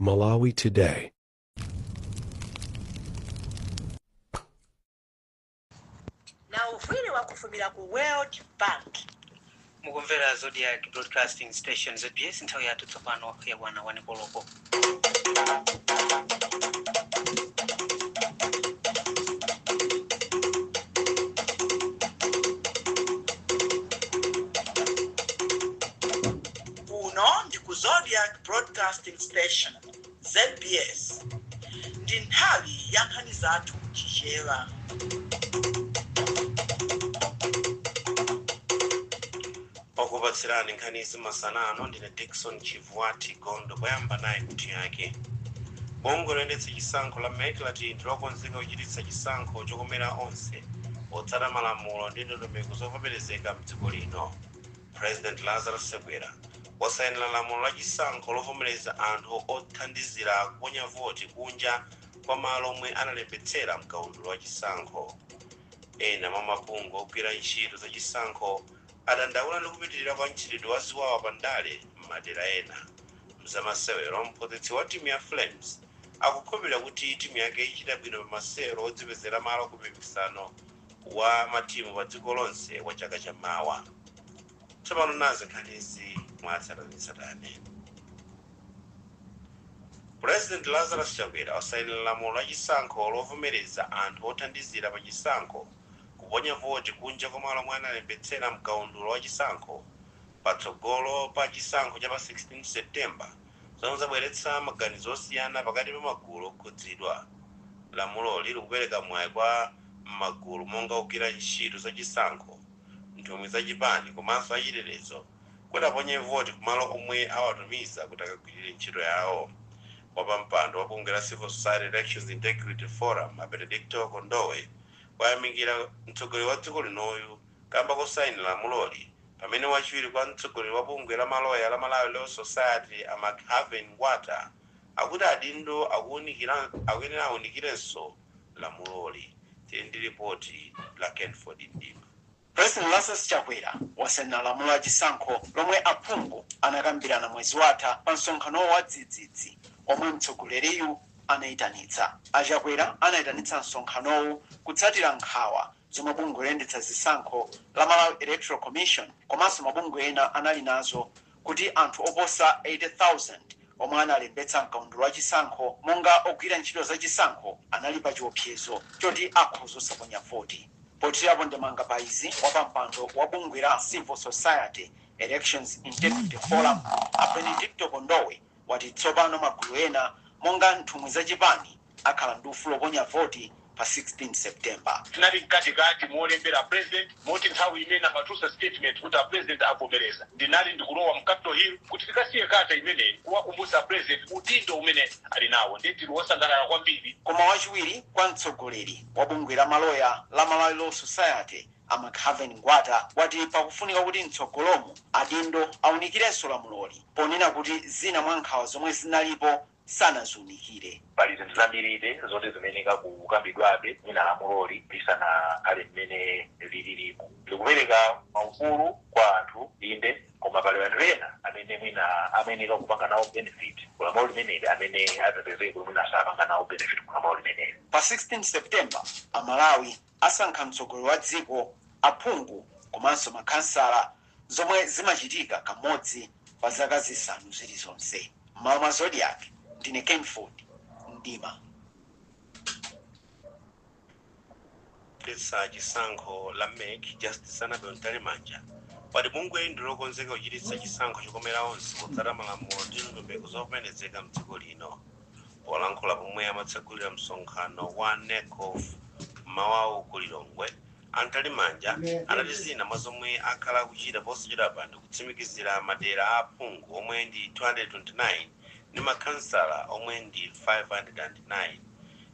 Malawi Today. na wovwiri wa kufumira ku world bank mukumvera Zodiak broadcasting station zbs nthawi yathu tsopano yakwana wani koloko Kuno ndi ku Zodiak Broadcasting Station, zbs, ndi nthawi ya nkhani zathu m'Chichewa. Okupatsirani nkhanizi masana ano ndine Dickson Chivwati Gondwe. Poyamba nayi mitu yake. Bungwe loyendetsa chisankho la mec lati ndi lokonzeka kuchititsa chisankho chokomera onse potsata malamulo ndi ndondomeko zovomerezeka m'dziko lino. President Lazarus Chakwera wasainila lamulo la chisankho lovomeleza anthu othandizira kuponya voti kunja kwa malo omwe analembetsera mkaundula wa chisankho. Ena mwa mabungwe ogwira ntchito za chisankho adandaula ndi kupitilira kwa mchitidwe wa ziwawa pa ndale m'madera ena. Mzamasewero Mphunzitsi wa timu ya Flames akukhulupilira kuti timu yake ichita bwino pa masewero odzipezera malo ku mpikisano wa matimu pa dziko lonse wa chaka cha mawa. Tsopano nazi nkhanizi mwatsatanetsatane. Pulezidenti Lazarus Chakwera wasainira lamulo la chisankho lovomereza anthu othandizira pa chisankho kuponya voti kunja kwa malo omwe analembetsera m'kaundula wa chisankho patsogolo pa chisankho cha pa 16 September zomwe zabweretsa maganizo osiyana pakati pa magulu okhudzidwa. Lamuloli likupereka mwayi kwa magulu monga ogwira ntchito za chisankho, nthumwi za chipani komanso achitetezo kuti aponye voti kumalo omwe awatumiza kuti akagwirire ntchito yawo. Wapampando wa bungwe la Civil Society Elections Integrity Forum, a Benedicto Kondowe, wayamikira mtsogoleri wa dziko linoyu. kamba kosainira lamuloli pamene wachiwiri kwa mtsogoleri wa bungwe la maloya la Malawi Law Society a McHarven Ngwata akuti adindo akuyenera aunikirenso lamuloli. Tili ndi lipoti la Kenphord Mdima. President Lazarus Chakwera wasainira lamulo la chisankho lomwe aphungu anakambirana mwezi watha pa msonkhano wawo wa dzidzidzi omwe mtsogoleriyu anaitanitsa. A Chakwera anaitanitsa msonkhanowu kutsatira nkhawa zomwe bungwe loyendetsa zisankho la Malawi Electoral Commission komanso mabungwe ena anali nazo kuti anthu oposa 80,000 omwe analembetsa m'kaundula wa chisankho monga ogwira ntchito za chisankho anali pa chiopsezo choti akhoza osaponya voti. Pothirapo ndemanga pa izi, wapampando wa bungwe la Civil Society Elections Integrity Forum a Benedicto Kondowe wati tsopano magulu ena monga nthumwi za chipani, akhala ndi ufulu oponya voti pa 16 September. Tinali mkatikati molembera apresident moti nthawi imene amatulutsa statement kuti apresident avomereza ndinali ndikulowa mu Capital Hill kuti tikasiye kata imeneyi kuwakumbutsa apresident udindo umene ali nawo nde tili osangalala kwambiri. Koma wachiwiri kwa mtsogoleri wa bungwe la maloya la Malawi Law Society a McHarven Ngwata wati pakufunika kuti mtsogolomu adindo aunikirenso lamuloli ponena kuti zina mwa nkhawa zomwe zinalipo sanaziunikire. Pali zinthu zambiribe zoti zimeneka kukambidwabe mwina lamuloli lisanakhale mmene lililimu. Likupereka maufulu kwa anthu inde, koma pali anthu ena amene mwina ameneka kupanga nawo benefit ku lamulo limeneli amene adzapezeke kuti mwina sapanga nawo benefit ku lamulo limeneli. Pa 16 September, Amalawi asankha mtsogoleri wa dziko, aphungu komanso makhansala. zomwe zimachitika kamodzi pa zaka zisanu zilizonse. M'malo mwa Zodiak, ndine Kenford Mdima. Loyendetsa chisankho la MEC Justice Annabel Mtalimanja wati bungweli ndi lokonzeka kuchititsa chisankho chokomera onse potsata malamulo ndi ndondomeko zovomerezeka mdziko lino. Polankhula pomwe amatsegulira msonkhano wa NECOF m'mawawu ku Lilongwe, A Mtalimanja anati zina mwa zomwe akhala akuchita posachedwapa ndi kutsimikizira madera a aphungu omwe ndi 229 ndi makhansala omwe ndi 509.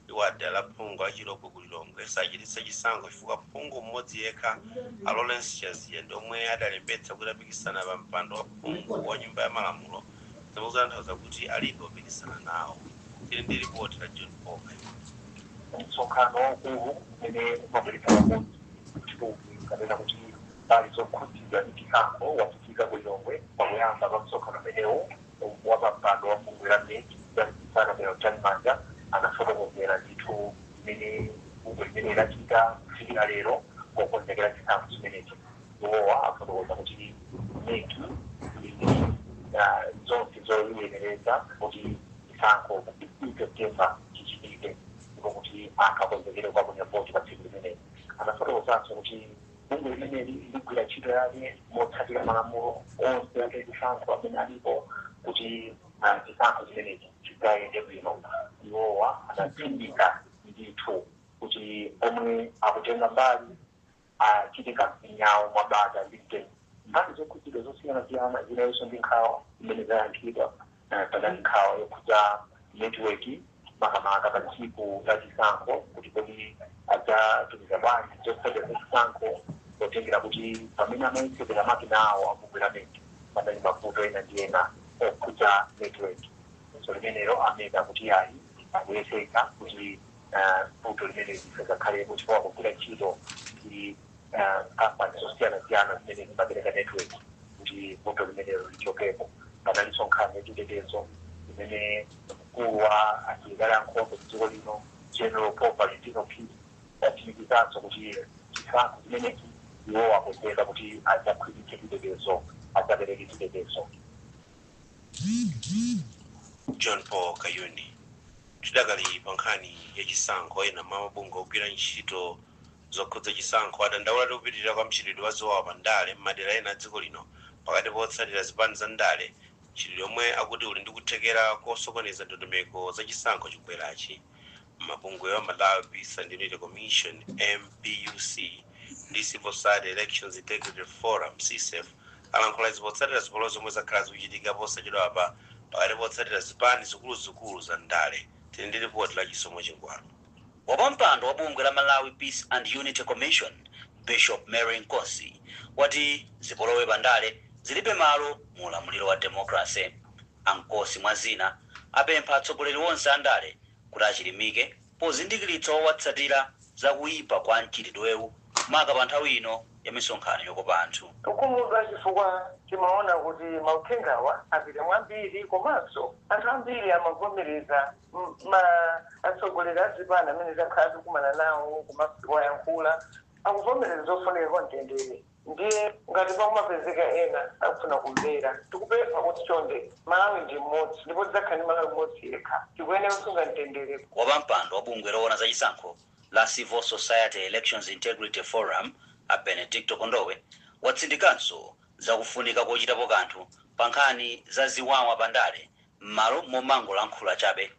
Iwo ati dera la phungu la Chilobwe ku Lilongwe sachititsa chisankho chifukwa phungu mmodzi yekha a Lawrence Chaziya ndi omwe adalembetsa kuti apikisana pa mpando wa phungu wa nyumba ya malamulo zikutanthauza kuti alibe opikisana nawo. Tili ndi lipoti la John Paul Maina. Msonkhano waukulu umene umabweretsa pamodzi nthumwi kapena kuti mbali zokhudzidwa ndi chisankho wachitika ku Lilongwe. Pakuyamba pa msonkhano umenewu, wapampando wa bungwe la MEC Justice Annabel Mtalimanja anafotokozera ndithu mmene bungwe limeneli lachita kufikira lero pokonzekera chisankho chimenechi. Iwowa afotokoza kuti mec ili ndi zonse zoyenereza kuti chisankho pa 16 September chichitike ndipo kuti anthu akonzekere kukaponya voti pa tsiku limeneli. Anafotokozanso kuti bungwe limeneli ligwira ntchito yake motsatira malamulo onse achisankho amene alipo kuti chisankho chimenechi chidzayende bwino. Iwowa anatsindika ndithu kuti omwe akutenga mbali achite kampeni yawo mwa bata ndi mtendere. Mbali zokhudzidwa zosiyanasiyana zinalinso ndi nkhawa zimene zayankhidwa. Panali nkhawa yokhudza netiweki makamaka pa tsiku la chisankho kuti kodi adzatumiza bwanji zotsatira za chisankho potengera kuti pamene amayetsetera makina awo a bungwe la mec panali mavuto ena ndi ena okhudza netiweki. Funso limenelo a mec ati ayi akuyesetsa kuti ah, vuto limeneli lisadzakhalepo chifukwa akugwira ntchito ndi ah, kampani zosiyanasiyana zimene zimapereka network kuti vuto limenelo lichokepo panalinso nkhani yachitetezo imene mkulu wa asilikali ankhondo mdziko lino general paul valentino phiri watsimikizanso kuti chisankho chimenechi iwo akonzeka kuti adzakhwimitse chitetezo adzapereke chitetezo John Paul Kayuni. Tidakali pa nkhani ya chisankho, ena mwa mabungwe ogwira ntchito zokhudza chisankho adandaula ndi kupitirira kwa mchitidwe wa ziwawa pa ndale m'madera ena a dziko lino pakati pa otsatira zipani za ndale, mchitidwe omwe akuti uli ndi kuthekera kosokoneza ndondomeko za chisankho chikubwerachi. Mabungwewa Malawi Peace and Unity Commission, MPUC, ndi Civil Society Elections Integrity Forum, CSEIF, alankhula izi potsatira zipolowe zomwe zakhala zikuchitika posachedwapa pakati potsatira zipani zikuluzikulu za ndale. Tili ndi lipoti la Chisomo Chingwalu. Wapampando wa bungwe la Malawi Peace and Unity Commission, Bishop Mary Nkosi, wati zipolowe pa ndale zilibe malo mu ulamuliro wa democracy. A Nkosi mwa zina apempha atsogoleri onse a ndale kuti achilimike pozindikiritsa owatsatira za kuipa kwa mchitidwewu maka pa nthawi ino ya misonkhano yokopa anthu. Tikukhumudwa chifukwa timaona kuti mauthengawa apita mwambiri komanso anthu ambiri amavomereza ma atsogoleri a zipani amene takhala tikukumana nawo komanso kuwayankhula akuvomereza zofunika kwa mtendere. Ndiye ngati pakumapezeka ena sakufuna kumvera, tikupempha kuti chonde, Malawi ndi mmodzi ndipo tidzakhala ndi Malawi mmodzi yekha. Tikuyenera kusunga mtendere. Wapampando wa bungwe loona za chisankho la Civil Society Elections Integrity Forum, a Benedicto Kondowe, watsindikanso za kufunika kochitapo kanthu pa nkhani za ziwawa pa ndale mmalo momangolankhula chabe.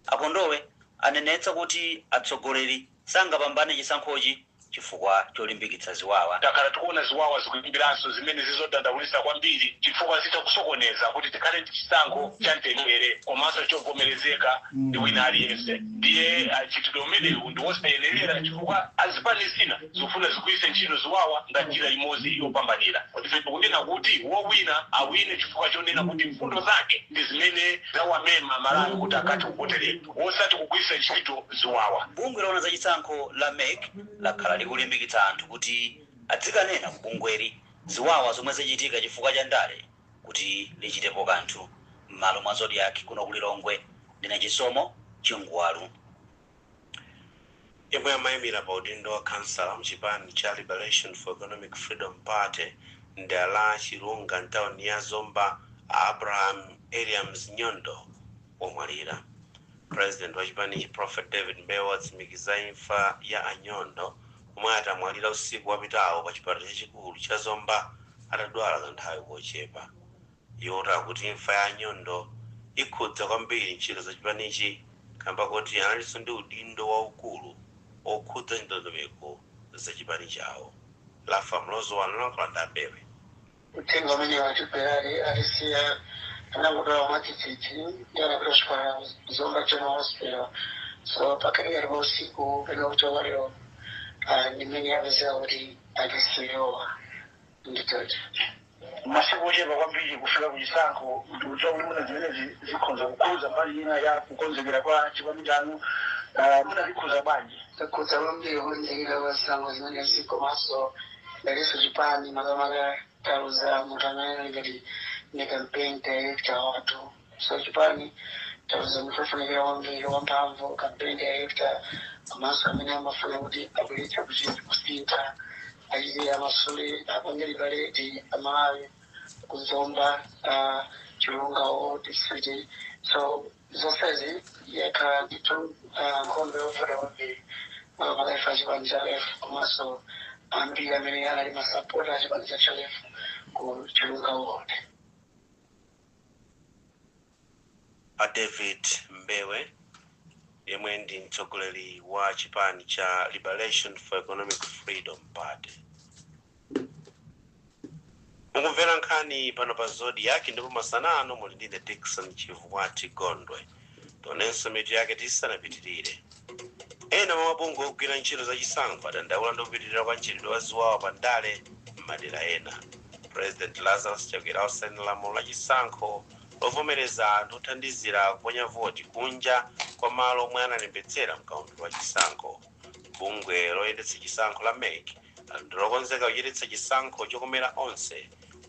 A Kondowe anenetsa kuti atsogoleri sangapambane chisankhochi chifukwa cholimbikitsa ziwawa. Takhala tikuona ziwawa zikuyambiranso zimene zili zodandaulitsa kwambiri chifukwa zitha kusokoneza kuti tikhale ndi chisankho cha mtendere komanso chovomerezeka ndi wina aliyense ndiye mchitidwe umenewu ndi wosayenerera chifukwa azipani zina zikufuna zigwiritse ntchito ziwawa ngati njira imodzi yopambanira. Ife tikunena kuti wowina awine chifukwa chonena kuti mfundo zake ndi zimene. Zawamema aMalawi kuti akathe kuvoteredwa osati kugwiritsa ntchito ziwawa. Bungwe loona za chisankho la MEC lakhala likulimbikitsa anthu kuti adzikanena ku bungweli ziwawa zomwe zachitika chifukwa cha ndale kuti lichitepo kanthu. M'malo mwa Zodiak kuno ku Lilongwe, ndine Chisomo Chingwalu. Yemwe amaimira pa udindo wa khansala mchipani cha Liberation for Economic Freedom Party mdera la Chilunga mtauni ya Zomba a Abraham Eliams Nyondo wamwalira. President wachipanichi Prophet David Mbewe watsimikiza imfa ya a Nyondo omwe ati amwalira usiku wapitawo pa chipatala chachikulu cha Zomba atadwala kanthawi kochepa. Iwo akuti imfa ya a Nyondo ikhudza kwambiri ntchito za chipanichi kamba koti analinso ndi udindo waukulu wokhudza ndondomeko za chipani chawo. Laffah Mlozo walankhula ndi a Mbewe. Uthenga umenewu a Jubelali atisiya anangodwala mwadzidzidzi ndiye anapita kuchipatala ku Zomba General Hospital so pakatikati pa usiku pena kucha kwa lero ndi mmene apezeka kuti atisiyawa. Ndithudi. Masiku ochepa kwambiri kufika ku chisankho, ndikudziwa kuti mwina zimenezi zikhonza kukhudza mbali ina ya kukonzekera kwa chipani chanu, uh, mwina zikhudza bwanji? Zakhudza kwambiri kukonzekera kwa zisankho zimenezi komanso ngatinso chipani makamaka taluza munthu amene anali ngati ndi campaign director wathu. So chipani tataya munthu wofunikira kwambiri, wamphamvu, campaign director, komanso amene amafuna kuti abweretse kuchit kusintha, achite, amasule, apange liberate Malawi, ku Zomba, a, Chilunga ward, Zomba city. So, zonsezi yakhala ndithu a, nkhondo yovuta kwambiri makamaka ife achipani cha LEF komanso ambiri amene anali masapota achipani cha LEF ku Chilunga ward. A David Mbewe yemwe ndi mtsogoleri wa chipani cha Liberation for Economic Freedom Party. Mukumvera nkhani pano pa Zodiak ndipo masana ano muli ndine Dickson Chivuwati Gondwe. Tionenso mitu yake tisanapitirire. Ena mwa mabungwe ogwira ntchito za chisankho adandaula ndi kupitirira kwa mchitidwe wa ziwawa pa ndale m'madera ena. Pulezidenti Lazarus Chakwera wasayinira lamulo la chisankho lovomereza anthu othandizira kuponya voti kunja kwa malo omwe analembetsera mkaundula wa chisankho. Bungwe loyendetsa chisankho la MEC lati ndi lokonzeka kuchititsa chisankho chokomera onse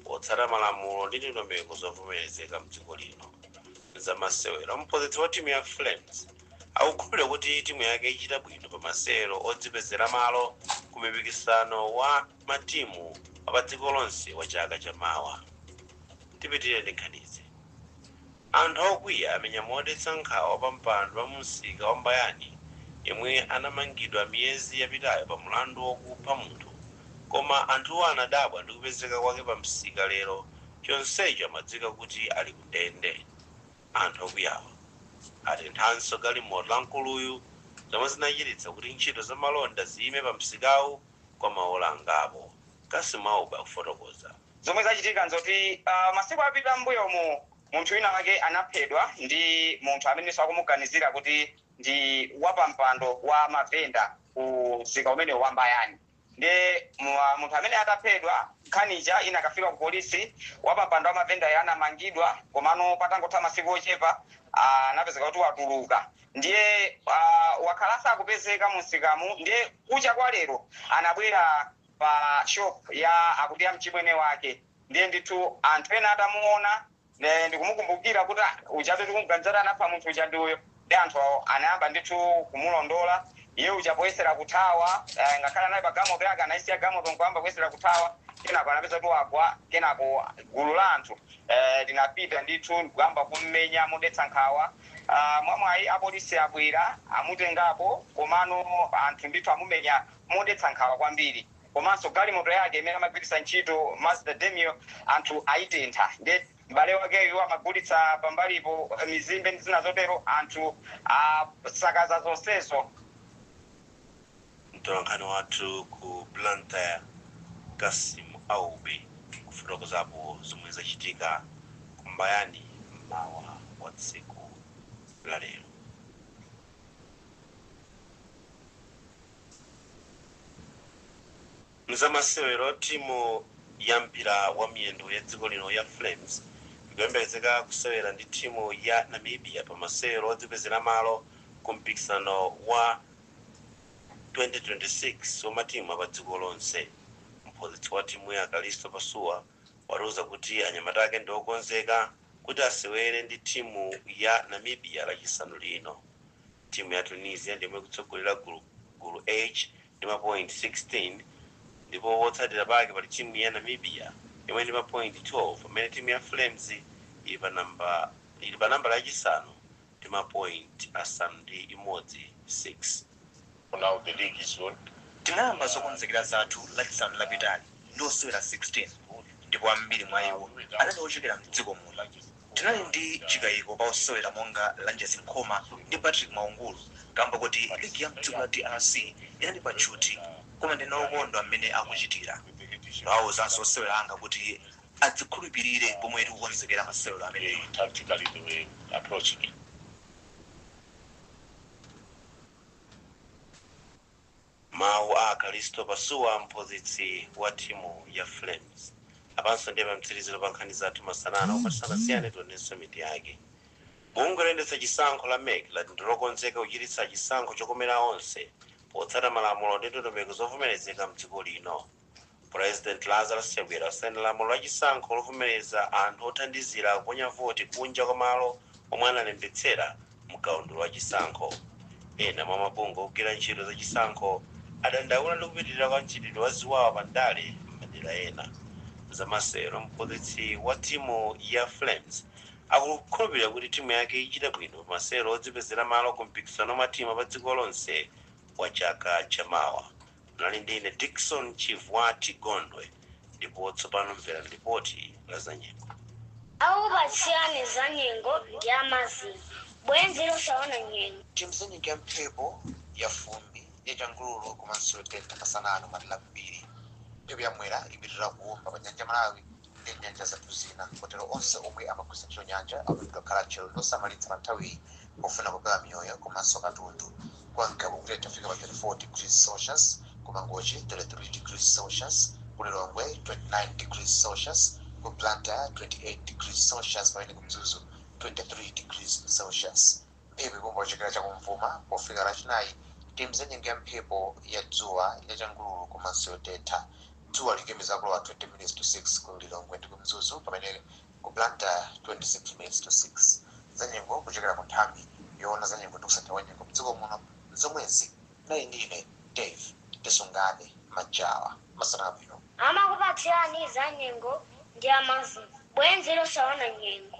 potsata malamulo ndi ndondomeko zovomerezeka m'dziko lino. M'zamasewero, mphunzitsi wa timu ya Flames akukhulupirira kuti timu yake ichita bwino pa masewero odzipezera malo ku mpikisano wa matimu wapadziko lonse wa chaka cha mawa. Tipitirire ndi nkhanizi. Anthu okwiya amenya modetsa nkhawa wapampando wa mumsika wa Mbayani yemwe anamangidwa miyezi yapitayo pa mlandu wokupha munthu koma anthuwa anadabwa ndi kupezeka kwake pamsika lero chonsecho amadziwika kuti ali ku ndende. Anthu okwiyawa atenthanso galimoto la mkuluyu zomwe zinachititsa kuti ntchito za malonda ziyime pamsikawu kwa maola angapo. Cassim Aubi akufotokoza. Zomwe zachitika nzoti masiku apita mmbuyomu munthu wina wake anaphedwa ndi munthu amenenso akumuganizira kuti ndi wapampando wa mavenda ku msika umenewu wa Mbayani ndiye munthu ameneyi ataphedwa nkhani ija inakafika ku polisi wapampando wa mavendayo anamangidwa komano patangotha masiku ochepa anapezeka kuti watuluka ndiye wakhala asakupezeka mumsikamu ndiye kucha kwa lero anabwera pa shop ya akuti ya mchimwene wake ndiye ndithu anthu ena atamuona ndikumukumbukira kuti "Ah, ujatu tikumuganiza kuti anapha munthu uja ndi uyo ndiye anthu awo anayamba ndithu kumulondola iye uja poyesera kuthawa eh, ngakhale anali pa gamoto yake anayisiya gamoto nkuyamba kuyesera kuthawa kenako anapezeka kuti wagwa kenako gulu la anthu eh, linapita ndithu ndikuyamba kummenya modetsa nkhawa Ah, mwamwayi apolisi abwera amutengapo komano anthu ndithu amumenya modetsa nkhawa kwambiri komanso galimoto yake imene amagwiritsa ntchito Mazda Demio anthu aitentha nde m'bale wakeyo amagulitsa pambalipo mizimbe ndi zina zotero anthu asakaza zonsezo. Mtolankhani wathu ku Blantyre Cassim Aubi kufotokozapo zomwe zachitika ku Mbayani m'mawa wa tsiku la lero. Mzamasewero, timu ya mpira wa miyendo ya dziko lino ya Flames ikuyembekezeka kusewera ndi timu ya Namibia pa masewero odzipezera malo ku mpikisano wa 2026 wa matimu a pa dziko lonse. Mphunzitsi wa timuyi a Kalisto Pasuwa. watiuza kuti anyamata ake ndi okonzeka kuti asewere ndi timu ya Namibia lachisanu lino. Timu ya Tunisia ndiyomwe ikutsogolera gulu, Gulu H, ndi mapointi 16 ndipo potsatira pake pali timu ya Namibia yomwe ndi mapointi 12 pamene timu ya Flames ili pa namba, ili pa nambala yachisanu ndi ma point asanu ndi imodzi 6. for now the league is on. Tinayamba zokonzekera zathu lachisanu lapitali ndi osewera 16 ndipo ambiri mwa iwo anali ochokera mdziko muno. Tinali ndi chikayiko pa osewera monga Lanjesi Nkhoma ndi Patrick Mwaungulu kamba koti ligi ya mdziko la drc inali pa tchuthi koma ndine okondwa mmene akuchitira. Ndawauzanso osewera anga kuti adzikhulupirire pomwe tikukonzekera masewero amenewa. Mawu a Kalisto Pasuwa mphunzitsi wa timu ya Flames. Apanso ndiye pamtsiriziro pa nkhani zathu masana ano koma tisanasiyane tionenso mitu yake. Bungwe loyendetsa chisankho la mec lati ndilokonzeka kuchititsa chisankho chokomera onse potsata malamulo ndi ndondomeko zovomerezeka m'dziko lino. Pulezidenti Lazarus Chakwera wasaina lamulo la chisankho lovomereza anthu othandizira kuponya voti kunja kwa malo omwe analembetsera mkaundula wa chisankho. Ena mwa mabungwe ogwira ntchito za chisankho adandaula ndi kupitilira kwa mchitidwe wa ziwawa pa ndale m'madera ena. M'zamasewero Mphunzitsi wa timu ya Flames akukhulupilira kuti timu yake ichita bwino pa masewero odzipezera malo ku mpikisano wa matimu apadziko lonse wa chaka cha mawa. Munali ndi ine Dickson Chivwati Gondwe ndipo tsopano mverani lipoti la za nyengo. Akupatsirani za nyengo ndi a Mazin, bwenzi losaona nyengo. Timva za nyengo ya mphepo, ya fumbi, ya changululu komanso yotentha masana ano m'madera ambiri. Mphepo ya Mwera ipitilira kuomba pa nyanja ya Malawi. ndi m'nyanja zathu zina. Kotero onse omwe amagwiritsa ntchito nyanja akuyenera kukhala atcheru ndi osamalitsa pa nthawiyi pofuna kupewa miyoyo komanso katundu. Kwa Ngabu kutentha kufika pa 34 degrees Celsius, ku Mangochi 33 degrees Celsius, ku Lilongwe 29 degrees Celsius, ku Blantyre 28 degrees Celsius pamene ku Mzuzu 23 degrees Celsius. Mphepo iomba kuchokera chakumvuma pofika Lachinayi timva zanyengo ya mphepo ya dzuwa, ya changululu komanso yotentha. Dzuwa likuyembekezeka kulowa 20 minitsi to 6 ku Lilongwe ndi ku Mzuzu pamene ku Blantyre 26 minitsi to 6. Zanyengo kuchokera ku nthambi yoona zanyengo ndi kusintha kwa nyengo m'dziko muno nzomwezi. Munali ndi ine Dave Tisungane Majawa. Masana abwino. Amakupatsirani zanyengo ndi a Mazin, bwenzi losaona nyengo.